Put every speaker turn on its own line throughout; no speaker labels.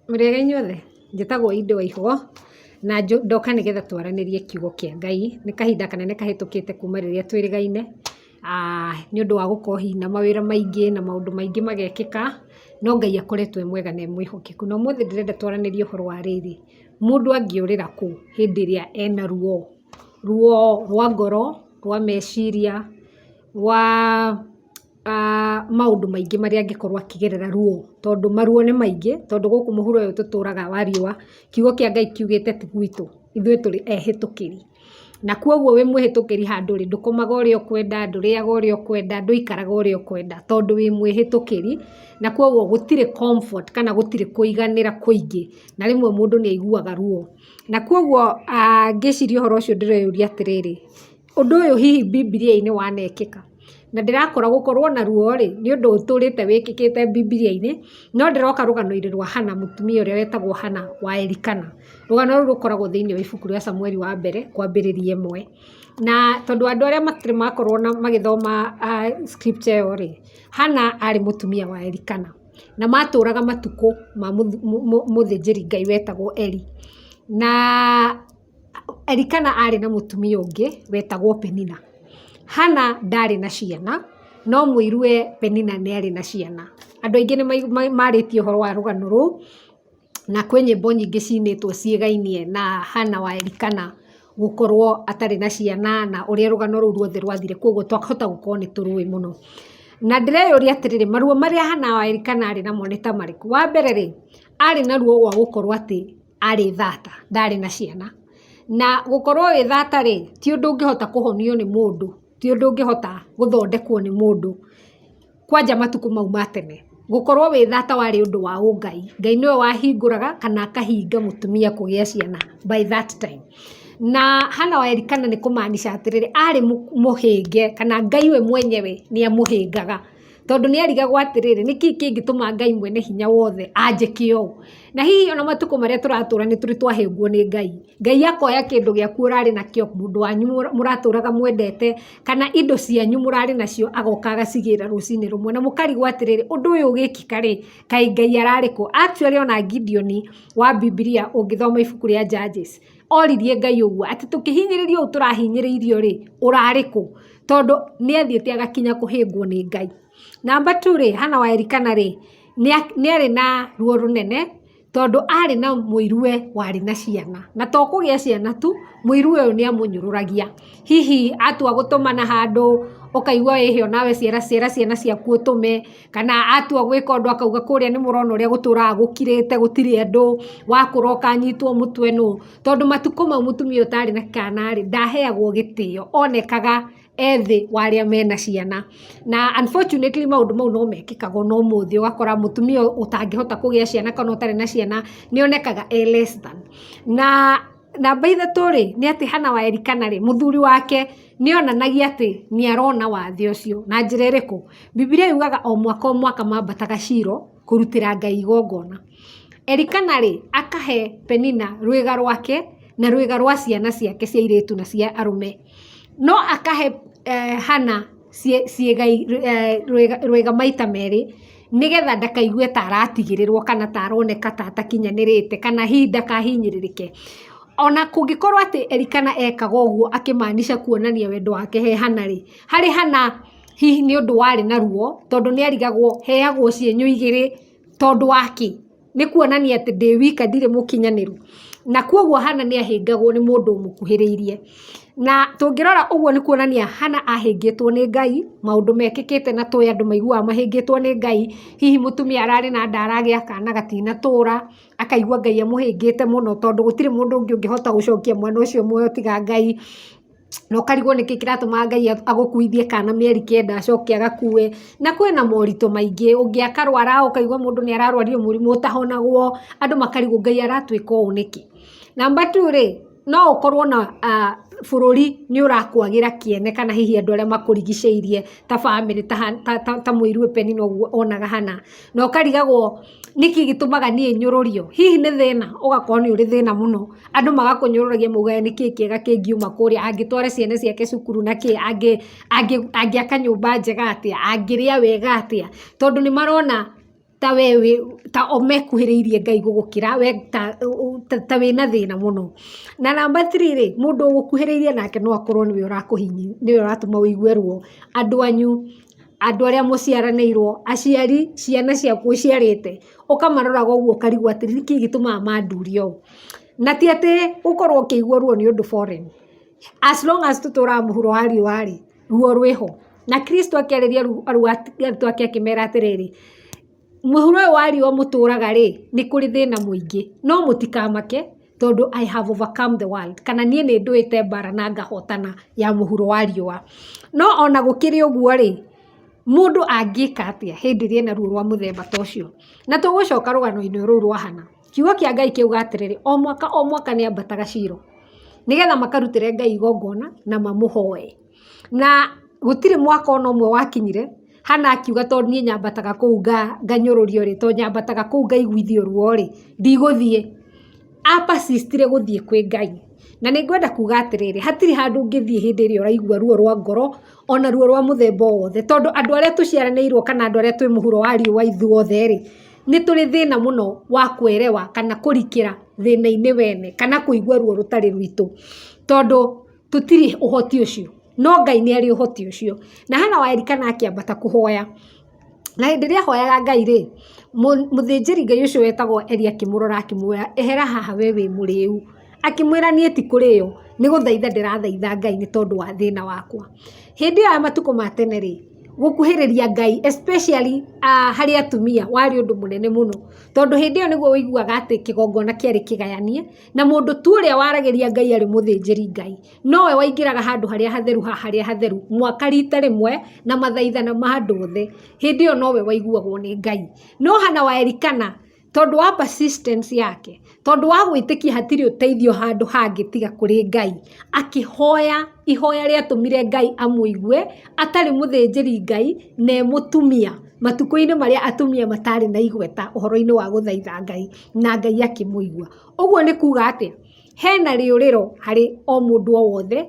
Mũrĩega inyuothe? Njĩtagwo Indo Waihũ, na ndoka nĩgetha twaranĩrie kiugo kĩa Ngai. Nĩ kahinda kanene kahĩtũkĩte kuuma rĩrĩa twĩrĩgaine, nĩ ũndũ wa gũkorwo hihi na mawĩra maingĩ na maũndũ maingĩ magekĩka, no Ngai akoretwo e mwega na e mwĩhokeku. Na ũmũthĩ ndĩrenda twaranĩrie ũhoro wa rĩrĩ, mũndũ angĩũrĩra kũ hĩndĩ ĩrĩa ena ruo? Ruo rwa ngoro, rwa meciria, rwa... maũndũ maingĩ marĩa angĩkorwo akĩgerera ruo, tondũ maruo nĩ maingĩ, tondũ gũkũ mũhuro ũyũ tũtũraga wa riũa, kiugo kĩa Ngai kiugĩte ti gwitũ, ithuĩ tũrĩ ehĩtũkĩri. Na kwoguo wĩ mwĩhĩtũkĩri handũ ũrĩ, ndũkomaga ũrĩa ũkwenda, ndũrĩaga ũrĩa ũkwenda, ndũikaraga ũrĩa ũkwenda, tondũ wĩ mwĩhĩtũkĩri, na kwoguo gũtirĩ comfort kana gũtirĩ kũiganĩra kũingĩ, na rĩmwe mũndũ nĩ aiguaga ruo. Na kwoguo ngĩciria ũhoro ũcio ndĩreyũria atĩrĩrĩ Ũndũ ũyũ hihi Bibilia-inĩ wanekĩka? Na ndĩrakora gũkorwo na ruo rĩ, nĩ ũndũ ũtũrĩte wĩkĩkĩte Bibilia-inĩ, no ndĩroka rũgano-inĩ rwa Hana, mũtumia ũrĩa wetagwo Hana wa Elikana. Rũgano rũu rũkoragwo thĩinĩ wa ibuku rĩa Samueli wa Mbere, kwambĩrĩria ĩmwe. Na tondũ andũ arĩa matirĩ makorwo na magĩthoma scripture ĩyo rĩ, Hana arĩ mũtumia wa Elikana. Na matũraga matukũ ma mũthĩnjĩri-Ngai wetagwo Eli. Na... Elikana aarĩ na mũtumia ũngĩ wetagwo Penina. Hana ndaarĩ na ciana, no mũirũ we Penina nĩ aarĩ na ciana. Andũ aingĩ nĩ maarĩtie ũhoro wa rũgano rũu, na kwĩ nyĩmbo nyingĩ ciinĩtwo ciĩgainie na Hana wa Elikana gũkorwo atarĩ na ciana na ũrĩa rũgano rũu ruothe rwathire, kwoguo twahota gũkorwo nĩ tũrũĩ mũno. Na ndĩreyũria atĩrĩrĩ, maruo marĩa Hana wa Elikana aarĩ namo nĩ ta marĩkũ? Wa mbere rĩ, aarĩ na ruo rwa gũkorwo atĩ arĩ thata, ndarĩ na ciana. Na gũkorwo wĩ thata rĩ, ti ũndũ ũngĩhota kũhonio nĩ mũndũ, ti ũndũ ũngĩhota gũthondekwo nĩ mũndũ, kwanja matukũ mau ma tene. Gũkorwo wĩ thata warĩ ũndũ wa ũngai. Ngai nĩwe wahingũraga kana akahinga mũtumia kũgĩa ciana by that time. Na Hannah wa Elikana nĩ kũmaanisha atĩrĩrĩ, arĩ mũhĩnge, kana Ngai we mwenyewe nĩ amũhĩngaga. Tondũ nĩ erigagwo atĩrĩrĩ, nĩ kĩĩ kĩngĩtũma Ngai mwene hinya wothe anjĩke ũũ? Na hihi ona matukũ marĩa tũratũra nĩ tũrĩ twahĩngwo nĩ Ngai. Ngai akoya kĩndũ gĩaku ũrarĩ nakĩo, mũndũ wanyu mũratũraga mwendete, kana indo cianyu mũrarĩ nacio agoka agacigĩra rũcinĩ rũmwe. Na mũkarigwo atĩrĩrĩ, ũndũ ũyũ ũgĩkĩka rĩ, kaĩ Ngai ararĩ kũ? Actually ona Gideon wa Bibilia ũngĩthoma ibuku rĩa Judges oririe Ngai ũguo, atĩ tũkĩhinyĩrĩrio ũũ tũrahinyĩrĩirio rĩ, ũrarĩ kũ? Tondũ nĩ athiĩte agakinya kũhĩngwo nĩ Ngai. Namba two rĩ, Hana wa Elikana rĩ, nĩ arĩ na ruo rũnene tondũ arĩ na mũiruwe warĩ na ciana. Na to kũgĩa ciana tu, mũiruwe ũyũ nĩ amũnyũrũragia. Hihi atua gũtũmana handũ, ũkaigua wĩhĩa o nawe cera cera ciana ciaku ũtũme, kana atua gwĩka ũndũ akauga kũrĩa nĩ mũrona ũrĩa gũtũraga gũkirĩte gũtirĩ andũ, wakũra ũkanyitwo mũtwe nũ? Tondũ matukũ mau mũtumia ũyũ ũtarĩ na kana rĩ, ndaheagwo gĩtĩo, onekaga e thĩ wa arĩa mena ciana. Na unfortunately maũndũ mau no mekĩkaga o na ũmũthĩ, ũgakora mũtumia ũtangĩhota kũgĩa ciana kana ũtarĩ na ciana nĩ onekaga e less than. Na Namba ithatũ rĩ, nĩ atĩ Hana wa Elikana rĩ, mũthuri wake nĩ onanagia atĩ nĩ arona wathe ũcio. Na njĩra ĩrĩkũ? Bibilia yugaga o mwaka o mwaka maambataga Shilo kũrutĩra Ngai igongona. Elikana rĩ, akahe Penina rwĩga rwake na rwĩga rwa ciana ciake cia airĩtu na cia arũme. No akahe Hana rwĩga maita merĩ. nĩgetha ndakaigue ta aratigĩrĩrwo kana ta aroneka ta atakinyanĩrĩte kana hihi ndakahinyĩrĩrĩke. Ona kũngĩkorwo atĩ Elikana ekaga ũguo akĩ maanisha kuonania wendo wake he Hana rĩ, harĩ Hana hihi nĩ ũndũ warĩ na ruo tondũ nĩ erigagwo heagwo cienyũ igĩrĩ tondũ wa kĩ? nĩ kuonania atĩ ndĩ wika ndirĩ mũkinyanĩru, na kwoguo Hannah nĩ ahĩngagwo nĩ mũndũ ũmũkuhĩrĩirie. Na tũngĩrora ũguo nĩ kuonania Hannah ahĩngĩtwo nĩ Ngai, maũndũ mekĩkĩte na tũĩ andũ maiguaga mahĩngĩtwo nĩ Ngai, hihi mũtumia ararĩ na nda aragĩa kana gatinatũra, akaigua Ngai amũhĩngĩte mũno tondũ gũtirĩ mũndũ ũngĩ ũngĩhota gũcokia mwana ũcio muoyo tiga Ngai. na ũkarigwo nĩkĩ kĩratũma Ngai agũkuithie kana mĩeri kenda acoke agakue, na kwĩna moritũ maingĩ, ũngĩ akarwara ũkaigua mũndũ nĩ ararwario mũrimũ ũtahonagwo, andũ makarigwo Ngai aratwĩka ũũ nĩkĩ? Number two rĩ, no ũkorwo na bũrũri nĩ ũrakwagĩra kĩene kana hihi andũ arĩa makũrigicĩirie ta bamĩrĩ ta mũirũ Peninah ũguo onaga hana. na ũkarigagwo nĩkĩ gĩtũmaga niĩ nyũrũrio, hihi nĩ thĩna? ũgakorwo nĩ ũrĩ thĩna mũno, andũ magakũnyũrũragia maugaga nĩkĩ kĩega kĩngiuma kũrĩa, angĩtwara ciana ciake cukuru na kĩ, angĩaka nyũmba njega atĩa, angĩrĩa wega atĩa, tondũ nĩ marona ta we wĩ, ta o mekuhĩrĩirie Ngai gũgũkĩra, we ta wĩna thĩna mũno. Na namba three rĩ, mũndũ ũgũkuhĩrĩirie nake no akorwo nĩwe ũratũma ũigue ruo, andũ anyu. andũ arĩa mũciaranĩirwo, aciari, ciana ciaku ũciarĩte, ũkamaroraga ũguo ũkarigwo atĩrĩ nĩkĩ gĩtũmaga manduria ũũ. Na ti atĩ gũkorwo ũkĩigua ruo nĩ ũndũ foreign. As long as tũtũraga mũhuro wa riũa rĩ, ruo rwĩho. Na Kristũ akĩarĩria arutwo ake akĩmera atĩrĩrĩ, Mũhuro ũyũ wa riũa mũtũraga rĩ, nĩ kũrĩ thĩna mũingĩ, no mũtikamake tondũ I have overcome the world, kana niĩ nĩ ndũĩte mbara na ngahotana ya mũhuro wa riũa. No o na gũkĩrĩ ũguo rĩ, mũndũ angĩka atĩa hĩndĩ ĩrĩa ena ruo rwa mũthemba ta ũcio? Na tũgũcoka rũgano-inĩ rũu rwa Hannah. Kiugo kĩa Ngai kĩuga atĩrĩrĩ, o mwaka o mwaka nĩ ambataga Shiloh, nĩgetha makarutĩre Ngai igongona na mamũhoe. Na gũtirĩ mwaka o na ũmwe wakinyire... Hana akiuga tondũ niĩ nyambataga kũu nganyũrũrio rĩ, tondũ nyambataga kũu ngaiguithio ruo rĩ, ndigũthiĩ. A persist re gũthiĩ kwĩ Ngai. Na nĩ ngwenda kuuga atĩrĩrĩ, hatirĩ handũ ũngĩthiĩ hĩndĩ ĩrĩa ũraigua ruo rwa ngoro, o na ruo rwa mũthemba o wothe, tondũ andũ arĩa tũciaranĩirwo kana andũ arĩa twĩ mũhuro wa riũa ithuothe rĩ, nĩ tũrĩ thĩna mũno wa kũerewa kana kũrikĩra thĩna-inĩ wene, kana kũigua ruo rũtarĩ rwitũ. Tondũ. Tũtirĩ ũhoti ũcio, no Ngai nĩ arĩ ũhoti ũcio. Na hena wa Elikana akĩambata kũhoya, na hĩndĩ ĩrĩa ahoyaga Ngai rĩ, mũthĩnjĩri Ngai ũcio wetagwo Eli akĩmũrora akĩmwĩra, ehera haha we wĩ mũrĩu. Akĩmwĩra niĩ ti kũrĩo, nĩ gũthaitha ndĩrathaitha Ngai nĩ tondũ wa thĩna wakwa. Hĩndĩ ĩyo ya matukũ ma tene rĩ, gũkuhĩrĩria Ngai especially harĩ atumia warĩ ũndũ mũnene mũno, tondũ hĩndĩ ĩyo nĩguo ũiguaga atĩ kĩgongona kĩarĩ kĩgayanie. Na mũndũ tu ũrĩa waragĩria Ngai arĩ mũthĩnjĩri-Ngai, nowe waingĩraga handũ harĩa hatheru ha harĩa hatheru mwaka riita rĩmwe na mathaithana ma andũ othe, hĩndĩ ĩyo nowe waiguagwo nĩ Ngai. No Hana wa Elikana, tondũ wa persistence yake, tondũ wa gwĩtĩkia hatirĩ ũteithio handũ hangĩ tiga kũrĩ Ngai, akĩhoya ihoya rĩatũmire Ngai amũigue, atarĩ mũthĩnjĩri-Ngai, na e mũtumia, matukũ-inĩ marĩa atumia mataarĩ na igweta ũhoro-inĩ wa gũthaitha Ngai. na Ngai akĩmũigua. Ũguo nĩ kuuga atĩa? Hena rĩũrĩro harĩ o mũndũ o wothe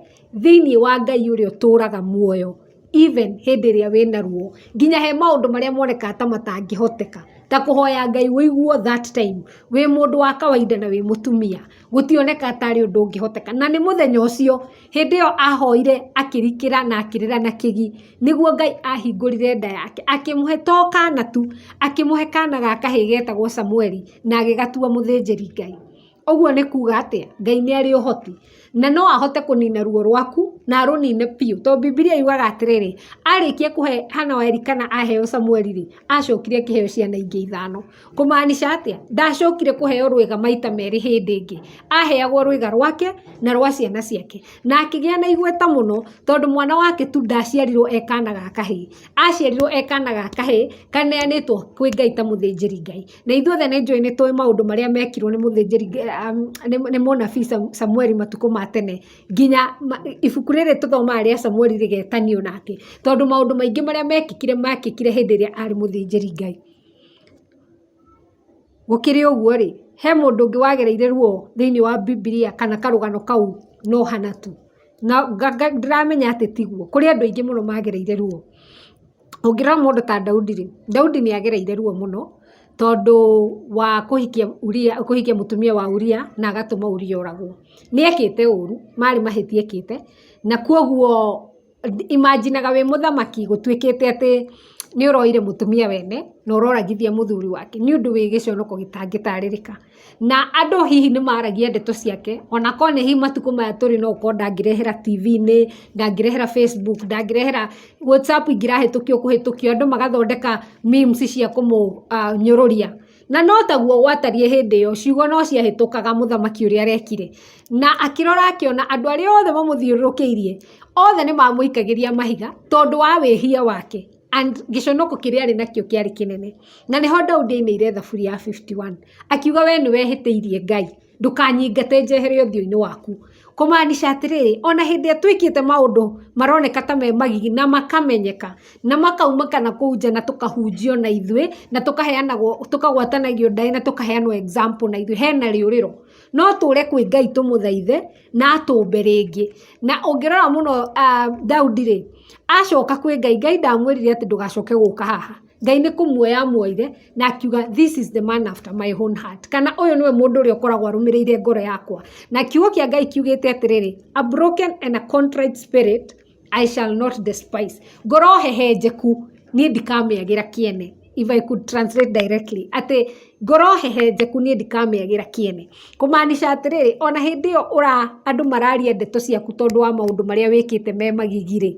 thĩiniĩ wa Ngai ũrĩa ũtũraga muoyo even hĩndĩ ĩrĩa wĩna ruo. Nginya he maũndũ marĩa monekaga ta matangĩhoteka, ta kũhoya Ngai ũiguo that time wĩ mũndũ wa kawainda na wĩ mũtumia. gũtioneka ta arĩ ũndũ ũngĩhoteka. Na nĩ mũthenya ũcio, hĩndĩ ĩyo ahoire akĩrikĩra na akĩrĩra na kĩgi, nĩguo Ngai ahingũrire nda yake, akĩmũhe to kaana tu, akĩmũhe kaana ga kahĩĩ geetagwo Samũeli, na agĩgatua mũthĩnjĩri-Ngai. Ũguo nĩ kuuga atĩa? Ngai nĩ arĩ ũhoti, na no ahote kũnina ruo rwaku, na arũnine biũ. To Bibilia yugaga atĩrĩrĩ, arĩkia kũhe Hana wa Elikana aheo Samũeli-rĩ, aacokire akĩheo ciana ingĩ ithano. Kũmaanisha atĩa? Ndaacokire kũheo rwĩga maita merĩ hĩndĩ ĩngĩ. Aaheagwo rwĩga rwake na rwa ciana ciake. Na akĩgĩa na igweta mũno tondũ mwana wake tu ndaaciarirwo e kaana ga kahĩĩ. Aaciarirwo e kaana ga kahĩĩ kaneanĩtwo kwĩ Ngai ta mũthĩnjĩri-Ngai. Na ithuĩ othe nĩ njũĩ nĩ tũĩ maũndũ marĩa meekirwo nĩ mũthĩnjĩri nĩ mũnabii Samueli matukũ ma tene. Nginya ibuku rĩrĩ tũthomaga rĩa Samueli rĩgetanio nake tondũ maũndũ maingĩ marĩa meekĩkire, meekĩkire hĩndĩ ĩrĩa aarĩ mũthĩnjĩri-Ngai. Gũkĩrĩ ũguo rĩ, he mũndũ ũngĩ wagereire ruo thĩiniĩ wa Bibilia kana karũgano kau no hana tu? Na ndĩramenya atĩ tiguo, kũrĩ andũ aingĩ mũno magereire ruo. Ũngĩrora mũndũ ta Daudi rĩ, Daudi nĩ agereire ruo mũno tondũ wa kũhikia Uria, kũhikia mũtumia wa Uria na agatũma Uria oragwo. Nĩ ekĩte ũru, marĩ mahĩtia ekĩte, na kwoguo imagine aga wĩ mũthamaki gũtuĩkĩte atĩ nĩ ũroire mũtumia wene na ũroragithia mũthuri wake nĩ ũndũ wĩ gĩconoko gĩtangĩtarĩrĩka. Na andũ hihi nĩ maragia ndeto ciake o na korwo nĩ hihi matukũ maya tũrĩ no gũkorwo ndangĩrehera TV-inĩ, ndangĩrehera Facebook, ndangĩrehera WhatsApp ingĩrahĩtũkio kũhĩtũkio andũ magathondeka memes cia kũmũnyũrũria. Na no taguo gwatariĩ hĩndĩ ĩyo, ciugo no ciahĩtũkaga mũthamaki ũrĩa arekire. Na akĩrora akĩona andũ arĩa othe mamũthiũrũrũkĩirie, othe nĩ mamũikagĩria mahiga tondũ wa wĩhia wake and gĩconoko kĩrĩa arĩ nakĩo kĩarĩ kĩnene. Na nĩho Daudi ainĩire thaburi ya fifty one, akiuga we nĩ wehĩtĩirie Ngai. ndũkanyingate njehere ũthiũ-inĩ waku. Kũmaanisha atĩrĩrĩ, o na hĩndĩ ĩrĩa twĩkĩte maũndũ maroneka ta me magigi na makamenyeka, na makaunĩka na kũu nja na tũkahunjio na ithuĩ, na tũkaheanagwo, tũkagwatanagio ndaĩ na tũkaheanwo example na ithuĩ, hena rĩũrĩro. No tũre kwĩ Ngai tũmũthaithe na atũmbe rĩngĩ. Na ũngĩrora mũno Daudi-rĩ, acoka kwĩ Ngai, Ngai ndamwĩrire atĩ ndũgacoke gũka haha. Ngai nĩ kũmuoya amuoire na akiuga this is the man after my own heart kana ũyũ nĩwe mũndũ ũrĩa ũkoragwo arũmĩrĩire ngoro yakwa. Na kiugo kĩa Ngai kiugĩte atĩrĩrĩ, a broken and a contrite spirit I shall not despise. Ngoro hehenjeku niĩ ndikamĩagĩra kĩene. If I could translate directly, atĩ ngoro hehenjeku niĩ ndikamĩagĩra kĩene. Kũmaanisha atĩrĩrĩ, ona hĩndĩ ĩyo andũ mararia ndeto ciaku tondũ wa maũndũ marĩa wĩkĩte me magigi rĩ,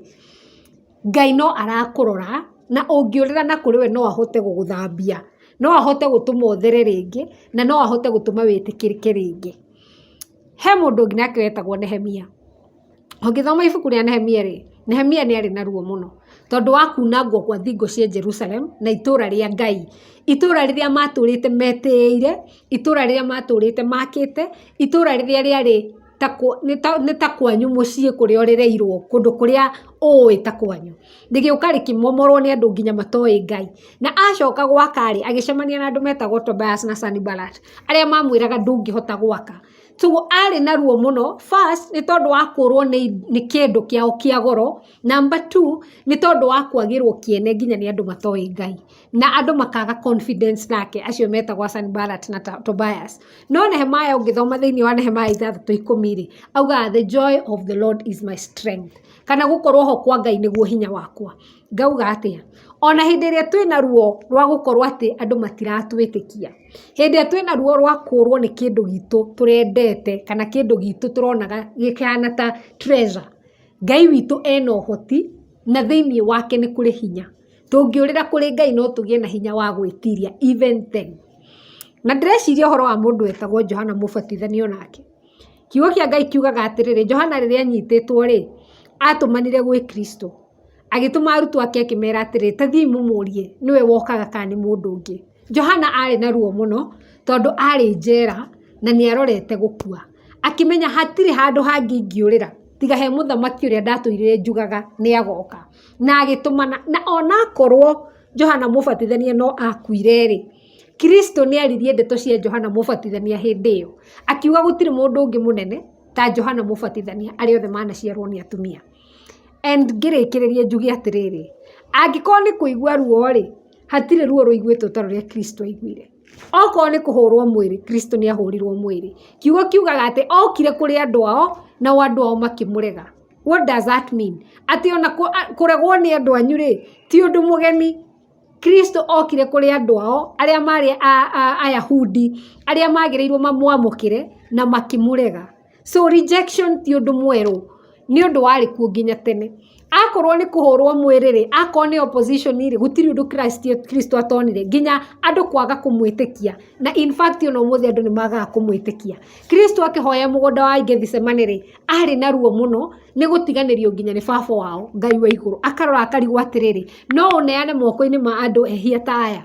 Ngai no arakũrora, na ũngĩũrĩra na kũrĩ we no ahote gũgũthambia. No ahote gũtũma ũthere rĩngĩ, na no ahote gũtũma wĩtĩkĩrĩke rĩngĩ. He mũndũ ũngĩ nake wetagwo Nehemia. Ũngĩthoma ibuku rĩa Nehemia rĩ, Nehemia nĩ arĩ na ruo mũno, tondũ wa kuunangwo gwa thingo cia Jerusalem, na itũũra rĩa Ngai. Itũũra rĩrĩa maatũũrĩte metĩĩire, itũũra rĩrĩa maatũũrĩte maakĩte, itũũra rĩrĩa rĩarĩ... nĩ ta kwanyu mũciĩ kũrĩa ũrereirwo, kũndũ kũrĩa ũĩ ta kwanyu. Rĩgĩũka rĩkĩmomorwo nĩ andũ nginya matoĩ Ngai. Na acoka gwaka-rĩ, agĩcemania na andũ metagwo Tobias na Sanballat, arĩa mamwĩraga ndũngĩhota gwaka. Toguo arĩ na ruo mũno, first, nĩ tondũ wa kũũrwo nĩ kĩndũ kĩao kĩa goro, number two, nĩ tondũ wa kwagĩrwo kĩene nginya nĩ andũ matoĩ Ngai. na andũ makaga confidence nake acio metagwo a Sanballat na Tobias no Nehemaya ũngĩthoma thĩinĩ wa Nehemaya ithathatũ ikũmi rĩ augaga the joy of the Lord is my strength kana gũkorwo ho kwa Ngai nĩguo hinya wakwa ngauga atĩa ona hĩndĩ ĩrĩa twĩna ruo rwa gũkorwo atĩ andũ matiratwĩtĩkia hĩndĩ ĩrĩa twĩna ruo rwa kũrwo nĩ kĩndũ gitũ tũrendete kana kĩndũ gitũ tũronaga gĩkĩhana ta treasure Ngai witũ ena ũhoti na thĩinĩ wake nĩ kũrĩ hinya Tũngĩũrĩra kũrĩ Ngai no tũgĩe na hinya wa gwĩtiria even then. Na ndĩreciria ũhoro wa mũndũ wetagwo Johana Mũbatithania o nake. Kiugo kĩa Ngai kiugaga atĩrĩrĩ, Johana rĩrĩa anyitĩtwo-rĩ, atũmanire gwĩ Kristũ. Agĩtũma arutwo ake akĩmera atĩrĩ, ta thiĩi mũmũrie, nĩwe wokaga kana nĩ mũndũ ũngĩ. Johana arĩ na ruo mũno, tondũ arĩ njera, na nĩ arorete gũkua. Akĩmenya hatirĩ handũ hangĩ ingĩũrĩra, tiga he mũthamaki ũrĩa ndatũire njugaga nĩ agoka. na agĩtũmana, na onakorwo Johana Mũbatithania no akuire-rĩ, Kristũ nĩaririe ndeto cia Johana Mũbatithania hĩndĩ ĩyo, akiuga gũtirĩ mũndũ ũngĩ mũnene ta Johana Mũbatithania arĩa othe manaciarwo nĩ atumia. And ngĩrĩkĩrĩria njuge atĩrĩrĩ, angĩkorwo nĩ kũigua ruo-rĩ, hatirĩ ruo rũiguĩtwo ta rũrĩa Kristũ aiguire. Okorwo nĩ kũhũrwo mwĩrĩ, Kristũ nĩahũrirwo mwĩrĩ. Kiugo kiugaga atĩ okire kũrĩ andũ ao, nao andũ ao makĩmũrega. What does that mean? Atĩ ona kũregwo nĩ andũ anyu rĩ, ti ũndũ mũgeni. Kristo okire kũrĩ andũ ao, arĩa marĩ Ayahudi, arĩa maagĩrĩirwo mamwamũkĩre, na makĩmũrega. So rejection ti ũndũ mwerũ, nĩ ũndũ warĩ kuo nginya tene. Akorwo nĩ kũhũrwo mwĩrĩ rĩ, akorwo nĩ opposition rĩ, gũtirĩ ũndũ Kristo atonire, nginya andũ kwaga kũmwĩtĩkia. Na in fact ona ũmũthĩ andũ nĩ magaga kũmwĩtĩkia. Kristo akĩhoya mũgũnda wa Gethsemane rĩ, arĩ na ruo mũno nĩ gũtiganĩrio nginya nĩ baba wao, Ngai wa igũrũ. Akarora akarigwo atĩrĩrĩ, no ũneane moko-inĩ ma andũ ehia ta aya?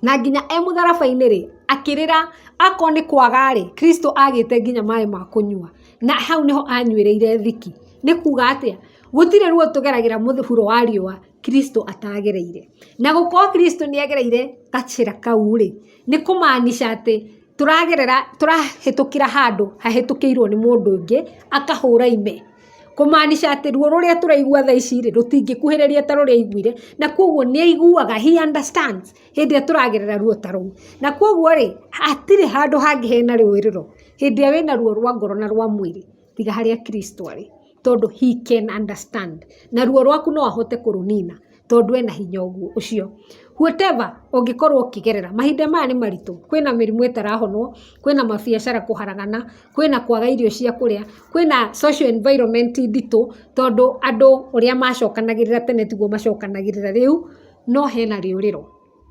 Na nginya e mũtharaba-inĩ rĩ, akĩrĩra, akorwo nĩ kwaga rĩ, Kristũ agĩte nginya maĩ ma kũnyua. Na hau nĩho anyuĩrĩire thiki. Nĩ kuuga atĩa? Gũtirĩ ruo tũgeragĩra mũhuro wa riũa Kristũ ataagereire. Na gũkorwo Kristũ nĩ agereire gacĩra kau rĩ, nĩ kũmaanica atĩ... Tũragerera, tũrahĩtũkĩra handũ hahĩtũkĩirwo nĩ mũndũ ũngĩ, akahũra ime. Kũmaanisha atĩ ruo rũrĩa tũraigua thaa ici rĩ, rũtingĩkuhĩrĩria ta rũrĩa aiguire, na kwoguo nĩ aiguaga, he understands, hĩndĩ ĩrĩa tũragerera ruo ta rũu. Na kwoguo rĩ, hatirĩ handũ hangĩ hena rĩũrĩro, hĩndĩ ĩrĩa wĩna ruo rwa ngoro na rwa mwĩrĩ. tiga harĩa Kristo arĩ, tondũ he can understand. Na ruo rwaku no ahote kũrũnina, tondũ ena hinya ũcio. Whatever ũngĩkorwo ũkĩgerera, mahinda maya nĩ maritũ, kwĩna mĩrimũ ĩtarahonwo, kwĩna mabiacara kũharagana, kwĩna kwaga irio cia kũrĩa, kwĩna social environment nditũ, tondũ andũ ũrĩa macokanagĩrĩra tene tiguo macokanagĩrĩra rĩu, no hena rĩũrĩro.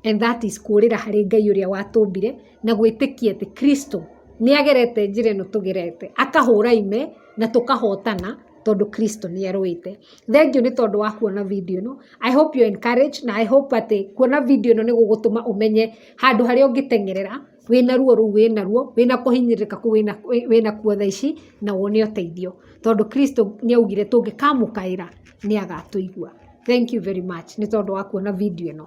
and that is kũũrĩra harĩ Ngai ũrĩa watũmbire na gwĩtĩkia atĩ Kristo nĩ agerete njĩra ĩno tũgerete, akahũra ime na tũkahotana tondũ Kristo nĩ arũĩte. Thengiũ nĩ tondũ wa kuona video ĩno. I hope you are encouraged na I hope atĩ kuona video ĩno nĩ gũgũtũma ũmenye handũ harĩa ũngĩteng'erera. wĩna ruo rũu wĩnaruo, wĩna kũhinyĩrĩrĩka kũu wĩnakuo thaa ici, na wone ũteithio. Tondũ Kristũ nĩ augire tũngĩkamũkaĩra nĩ agatũigua. Thank you very much nĩ tondũ wa kuona video ĩno.